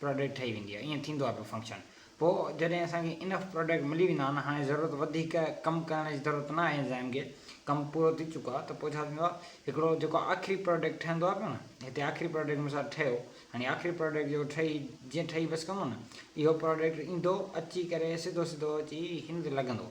Product ٺهي ويندي آهي ائين ٿيندو آهي پيو فنڪشن پوء جڏهن اسان کي انف پراڊڪٽ ملي ويندا آهن هاڻي ضرورت وڌيڪ ڪم ڪرڻ جي ضرورت نه آهي انزائم کي ڪم پورو ٿي چڪو آهي ته پوء ڇا ٿيندو آهي هڪڙو جيڪو آخري پراڊڪٽ ٺهندو آهي پيو نه هتي آخري پراڊڪٽ مثال ٺهيو هاڻي آخري پراڊڪٽ جيڪو ٺهي جيئن ٺهي بس ڪندو نه اهو پراڊڪٽ ايندو اچي ڪري سڌو سڌو اچي هن تي لڳندو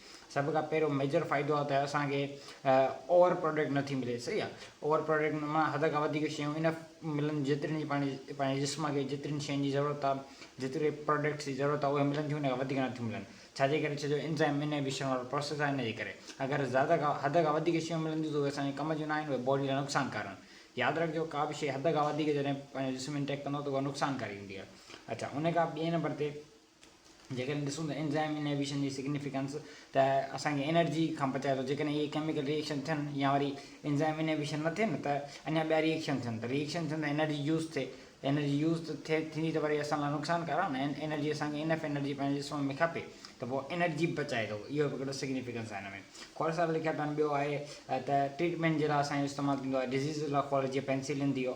سڀ کان پهريون ميجر فائدو آهي ته اسان کي اوور پروڊڪٽ نٿي ملي صحيح آهي اوور پروڊڪٽ معنيٰ حد کان وڌيڪ شيون انف ملن جيترين جي پنهنجي پنهنجي جسم کي جيترين شين جي ضرورت آهي جيتري پروڊڪٽس جي ضرورت آهي اهي ملن ٿيون ان کان وڌيڪ نٿيون ملن ڇا جي ڪري ڇو جو انزائم انهيبيشن وارو پروسيس آهي ان جي ڪري اگر زياده کان حد کان وڌيڪ شيون ملن ٿيون ته اهي اسان جي ڪم جون نه آهن اهي باڊي لاء نقصان ڪار آهن ياد رکجو ڪا به شيء حد کان وڌيڪ جڏهن پنهنجو جسم انٽيڪ ڪندو ته اها نقصان ڪاري هوندي آهي اڇا ان کان ٻئي نمبر تي جيڪڏهن ڏسون ته انزائم انهيبيشن جي سگنيفيڪنس ته اسان کي انرجي کان بچائي ٿو جيڪڏهن اهي ڪيميڪل ري ايڪشن ٿين يا وري انزائم انهيبيشن نه ٿئي نه ته اڃا ٻيا ري ايڪشن ٿين ته ري ايڪشن ٿين ته انرجي يوز ٿئي ته انرجي يوز ٿئي ٿيندي ته وري اسان لاء نقصان ڪار آهي نه انرجي اسان کي انف انرجي پنهنجي جسم ۾ کپي ته پوء انرجي بچائي ٿو اهو به هڪڙو سگنيفيڪنس آهي هن ۾ کهڙ صاحب لکيو اٿن ٻيو آهي ته ٽريٽمينٽ جي لاء اسان جو استعمال ٿيندو آهي ڊزيز لاء کهڙ جيئن پينسلين ٿي ويو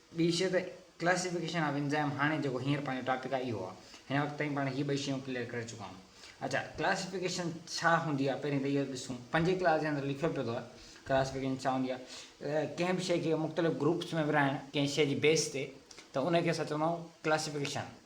ٻي شيء ته ڪلاسيفڪيشن آف انزائم هاڻي جيڪو هينئر پنهنجو ٽاپڪ آهي اهو آهي. هن وقت تائين پاڻ هي ٻئي شيون ڪليئر ڪري چڪا آهيون. اچا ڪلاسيفڪيشن ڇا هوندي آهي پهرين ته اهو ڏسون. پنجين ڪلاس جي اندر لکيو پيو اٿو ڪلاسيفڪيشن ڇا هوندي آهي. ڪنهن به شيء کي مختلف گروپس ۾ ورهائڻ ڪنهن شيء جي بيس تي ته ان کي اسان چوندا آهيون ڪلاسيفڪيشن.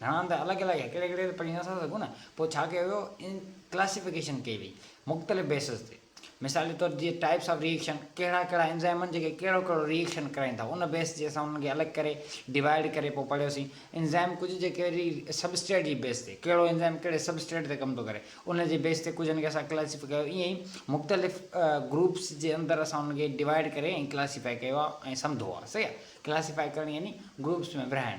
گهڻا هنڌ الڳ الڳ آهي ڪهڙي ڪهڙي تي پڙهي نٿا سگهون نه پوء ڇا ڪيو ويو ان ڪلاسيفڪيشن ڪئي وئي مختلف بيسز تي مثال جي طور جيئن ٽائيپس آف ري ايڪشن ڪهڙا ڪهڙا انزائم آهن جيڪي ڪهڙو ڪهڙو ري ايڪشن ڪرائين ٿا ان بيس جي اسان انهن کي الڳ ڪري ڊوائيڊ ڪري پوء پڙهيوسين انزائم ڪجهه جي ڪهڙي سبسٽريٽ جي بيس تي ڪهڙو انزائم ڪهڙي سبسٽريٽ تي ڪم ٿو ڪري ان جي بيس تي ڪجهن کي اسان ڪلاسيفائي ڪيو ائين ئي مختلف گروپس جي اندر اسان انهن کي ڊوائيڊ ڪري ۽ ڪلاسيفائي ڪيو آهي ۽ سمڌو آهي صحيح آهي ڪلاسيفائي ڪرڻ يعني گروپس ۾ ورهائڻ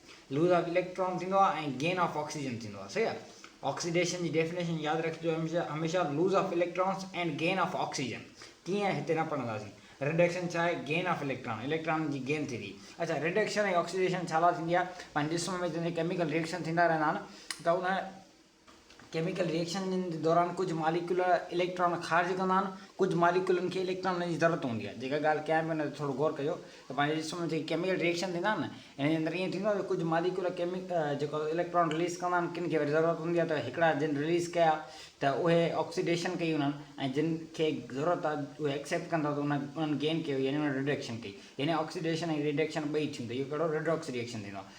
لوز آف اليڪٽران ٿيندو آهي ۽ گين آف آڪسيجن ٿيندو آهي. صحيح آهي. آڪسيڊيشن جي ڊيفنيشن ياد رکجو هميشه loss of electrons and gain of oxygen. ڪيئن هتي نه پڙهنداسين. رڊڪشن ڇا آهي؟ گين آف اليڪٽران، اليڪٽرانن جي گين ٿئي ٿي. اڇا رڊڪشن ۽ آڪسيڊيشن ڇا لاء ٿيندي آهي؟ پنهنجي جسم ۾ جڏهن ڪيميڪل ريئڪشن ٿيندا رهندا آهن ته ان ڪيميڪل ريئيڪشن جي دوران ڪجهه ماليڪيول اليڪٽران خارج ڪندا آهن، ڪجهه ماليڪيولن کي اليڪٽرانن جي ضرورت هوندي آهي. جيڪا ڳالهه ڪيان پيو ان تي ٿورو غور ڪجو ته پنهنجي جسم ۾ جيڪي ڪيميڪل ريئيڪشن ٿيندا آهن انهن جي اندر ائين ٿيندو آهي ته ڪجهه ماليڪيول جيڪو اليڪٽران رليز ڪندا آهن ڪن کي وري ضرورت هوندي آهي ته هڪڙا جن رليز ڪيا ته اهي آڪسيڊيشن ڪئي انهن ۽ جن کي ضرورت آهي اهي ايڪسيپٽ ڪن ٿا ته انهن گين ڪيو يعني انهن رڊڪشن ڪئي يعني آڪسيڊيشن ۽ رڊڪشن ٻئي ٿيون ته اهو ڪهڙو رڊاڪس ريئيڪشن ٿيندو آهي.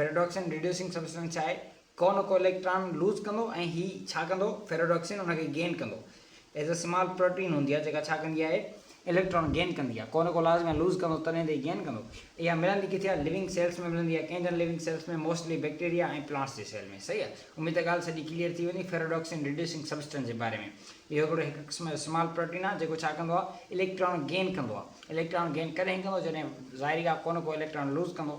فيرڊوڪسين ريڊيوسنگ سبسٽنس ڇا آهي؟ ڪو نه ڪو اليڪٽران لوز ڪندو ۽ هي ڇا ڪندو فيرڊوڪسين ان کي گين ڪندو ايز ا سمال پروٽين هوندي آهي جيڪا ڇا ڪندي آهي اليڪٽران گين ڪندي آهي ڪو نه ڪو لازمن لوز ڪندو تڏهن ته هي گين ڪندو اها ملندي ڪٿي آهي لوينگ سيلس ۾ ملندي آهي ڪنهن جن living cells ۾ mostly bacteria ۽ plants جي سيل ۾ صحيح آهي اميد ته ڳالهه سڄي ڪليئر ٿي ويندي فيرڊوڪسين ريڊيوسنگ سبسٽنس جي باري ۾ اهو هڪڙو هڪ قسم جو سمال پروٽين آهي جيڪو ڇا ڪندو آهي اليڪٽران گين ڪندو آهي اليڪٽران گين ڪڏهن ڪندو جڏهن ظاهري ڳالهه ڪو نه ڪو اليڪٽران لوز ڪندو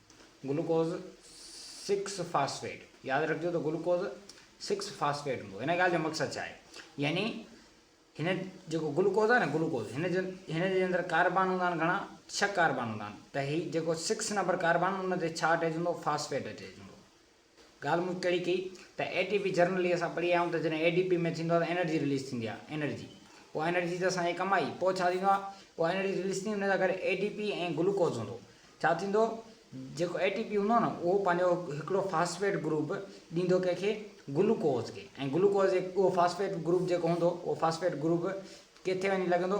گلوڪوز سڪس فاسفيٽ، ياد رکجو ته گلوڪوز سڪس فاسفيٽ هوندو هن ڳالهه جو مقصد ڇا آهي يعني هن جيڪو گلوڪوز آهي نه گلوڪوز هن جو هن جي اندر ڪاربان هوندا آهن گهڻا ڇهه ڪاربان هوندا آهن ته هي جيڪو سڪس نمبر ڪاربان ان تي ڇا اٽيچ هوندو فاسفيٽ اٽيچ هوندو ڳالهه مون ڪهڙي ڪئي ته اي ٽي پي جرنل ئي اسان پڙهي آيا آهيون ته جڏهن اي ڊي پي ۾ ٿيندو آهي ته انرجي رليز ٿيندي آهي انرجي پوء انرجي ته اسان جي ڪم آئي پوء ڇا ٿيندو آهي پوء انرجي رليز ٿيندي ان سان گڏ اي ڊي پي ۽ گلوڪوز هوندو ڇا ٿيندو جيڪو اي ٽي پي هوندو نه اهو پنهنجو هڪڙو فاسفيٽ گروپ ڏيندو ڪنهن کي گلوڪوز کي ۽ گلوڪوز اهو فاسفيٽ گروپ جيڪو هوندو اهو فاسفيٽ گروپ ڪٿي وڃي لڳندو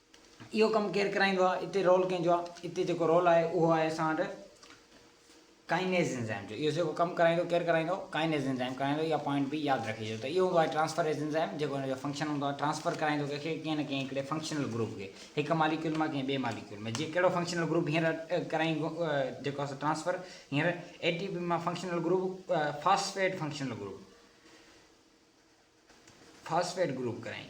اهو ڪم ڪير ڪرائيندو آهي؟ اتي رول ڪنهن جو آهي؟ اتي جيڪو رول آهي اهو آهي اسان وٽ ڪائنيز انزائم جو. اهو جيڪو ڪم ڪرائيندو ڪير ڪرائيندو؟ ڪائنيز انزائم ڪرائيندو. اها پوائنٽ به ياد رکجي ته اهو هوندو آهي ٽرانسفريز انزائم جيڪو ان جو فنڪشن هوندو آهي ٽرانسفر ڪرائيندو ڪنهن کي ڪنهن نه ڪنهن هڪڙي فنڪشنل گروپ کي هڪ ماليڪيول مان ڪنهن ٻئي ماليڪيول ۾ جي ڪهڙو فنڪشنل گروپ هينئر ڪرائين جيڪو اسان ٽرانسفر هينئر اي ٽي پي مان functional group phosphate functional group phosphate group ڪرائين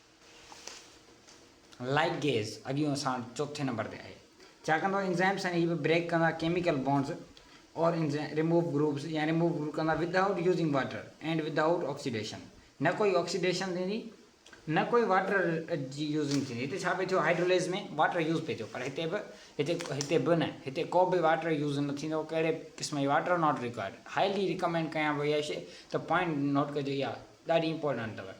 لائيٽ گيز اڳيون سان چوٿين نمبر تي آهي ڇاڪاڻ ته انزائمز ۽ هي به بريڪ ڪندا ڪيميڪل بانڊز اور انزائم ريموو گروپز يا ريموو گروپ ڪندا without using water and without oxidation نه ڪوئي آڪسيڊيشن ٿيندي نه ڪوئي واٽر جي يوزنگ ٿيندي هتي ڇا پئي ٿيو هائيڊروليز ۾ واٽر يوز پئي ٿيو پر هتي به هتي هتي به نه هتي ڪو به واٽر يوز نه ٿيندو ڪهڙي قسم جي water not required highly recommend ڪيان پئي اهي شي ته پوائنٽ نوٽ ڪجو اها ڏاڍي امپورٽنٽ اٿو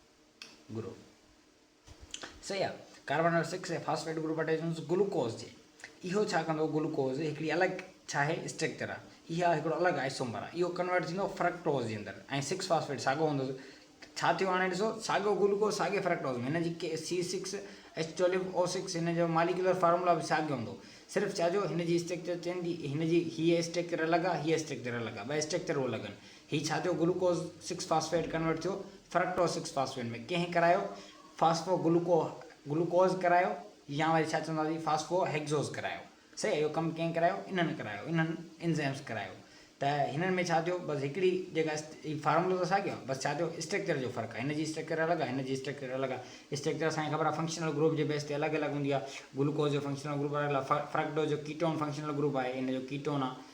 گروپ صحيح آ carbon number six ۽ phosphate group attachments glucose جي اهو ڇا ڪندو گلوڪوز هڪڙي الڳ ڇا آهي اسٽرڪچر آ اها هڪڙو الڳ آئسومر آ اهو ڪنورٽ ٿيندو فرڪٽوز جي اندر ۽ سڪس فاسفيٽ ساڳو هوندو ڇا ٿيو هاڻي ڏسو ساڳو گلوڪوز ساڳي فرڪٽوز ۾ هن جي ڪي C six H twelve O six هن جو ماليڪولر فارمولا به ساڳيو هوندو صرف چا جو هن جي اسٽرڪچر چينج هن جي هي اسٽرڪچر الڳ آ هي اسٽرڪچر الڳ آ ٻه اسٽرڪچر الڳ آهن هي ڇا ٿيو گلوڪوز سڪس فاسفيٽ ڪنورٽ ٿيو فرڪٽوز سڪس فاسفيٽ ۾ ڪنهن ڪرايو فاسفو گلوڪو گلوڪوز ڪرايو يا وري ڇا چونداسين فاسفو هيڪزوز ڪرايو صحيح اهو ڪم ڪنهن ڪرايو انهن ڪرايو انهن انزيمز ڪرايو ته هنن ۾ ڇا ٿيو بس هڪڙي جيڪا هي فارمولو ته ساڳيو آهي بس ڇا ٿيو اسٽرڪچر جو فرق آهي هن جي اسٽرڪچر الڳ آهي هن جي اسٽرڪچر الڳ آهي اسٽرڪچر اسان کي خبر آهي فنڪشنل گروپ جي بيس تي الڳ الڳ هوندي آهي گلوڪوز جو فنڪشنل گروپ الڳ آهي فرڪٽوز جو ڪيٽون فنڪشنل گروپ آهي هن جو ڪيٽون آهي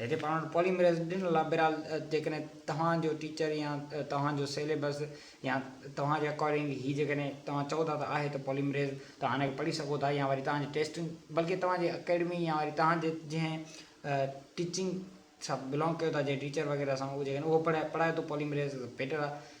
هتي پاڻ وٽ پوليمريز ڏنل آهي، بهرحال جيڪڏهن توهان جو ٽيچر يا توهان جو سيليبس يا توهان جي اڪارڊنگ هي جيڪڏهن توهان چئو ٿا ته آهي ته پوليمريز توهان ان کي پڙهي سگهو ٿا يا وري توهان جي ٽيسٽن بلڪه توهان جي اڪيڊمي يا وري توهان جي جنهن ٽيچنگ سان بلانگ ڪيو ٿا جنهن ٽيچر وغيره سان اهو جيڪڏهن اهو پڙهائي پڙهائي ٿو پوليمريز بيٽر آهي.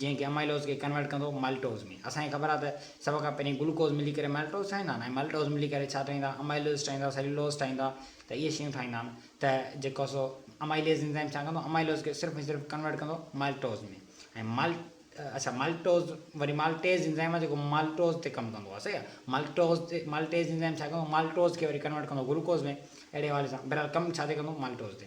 جنهن کي امائلوز کي ڪنورٽ ڪندو مالٽوز ۾. اسان کي خبر آهي ته سڀ کان پهرين گلوڪوز ملي ڪري مالٽوز ٺاهيندا آهن ۽ مالٽوز ملي ڪري ڇا ٺاهيندا آهن امائلوز ٺاهيندا سيلولوز ٺاهيندا ته اهي شيون ٺاهيندا آهن ته جيڪو سو امائليز انزائم ڇا ڪندو امائلوز کي صرف ۽ صرف ڪنورٽ ڪندو مالٽوز ۾ ۽ مال اڇا مالٽوز وري مالٽيز انزائم آهي جيڪو مالٽوز تي ڪم ڪندو آهي صحيح آهي مالٽوز تي مالٽيز انزائم ڇا ڪندو مالٽوز کي وري ڪنورٽ ڪندو گلوڪوز ۾ اهڙي حوالي سان بهرحال ڪم ڇا تي ڪندو مالٽوز تي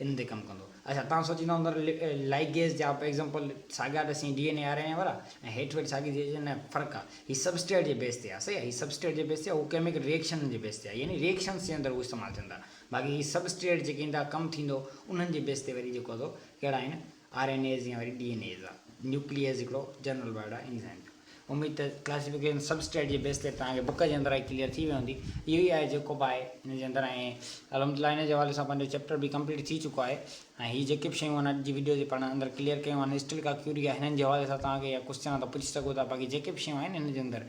ان تي ڪم ڪندو. اچا توهان سوچيندا هوندو ته لائيڪ گيس جا ايگزامپل ساڳيا ته سين D N A R N A وارا ۽ هيٺ ويٺ ساڳي جي جي ۾ فرق آ هي سبسٽريٽ جي بيس تي آ صحيح آ هي سبسٽريٽ جي بيس تي آ هو ڪيميڪل ريئڪشنن جي بيس تي آ يعني ريئڪشنس جي اندر هو استعمال ٿين ٿا باقي هي سبسٽريٽ جيڪي ان تان ڪم ٿيندو انهن جي بيس تي وري جيڪو ٿو ڪهڙا آهن آر اين ايز يا وري ڊي اين ايز آ نيوڪليئز هڪڙو جنرل ورڊ آ انزائيم جو اميد ته ڪلاسيفڪيشن سب اسٽريٽ جي بيس تي توهان کي بڪ جي اندر آهي ڪليئر ٿي وئي هوندي اهو ئي آهي جيڪو به آهي ان جي اندر ۽ الحمد لله ان جي حوالي سان پنهنجو چيپٽر به ڪمپليٽ ٿي چڪو آهي ۽ هي جيڪي به شيون آهن اڄ جي ويڊيو تي پاڻ اندر ڪليئر ڪيون آهن اسٽل ڪا ڪيوري آهي هنن جي حوالي سان توهان کي يا ڪوسچن آهن ته پڇي سگهو ٿا باقي جيڪي به شيون آهن هن جي اندر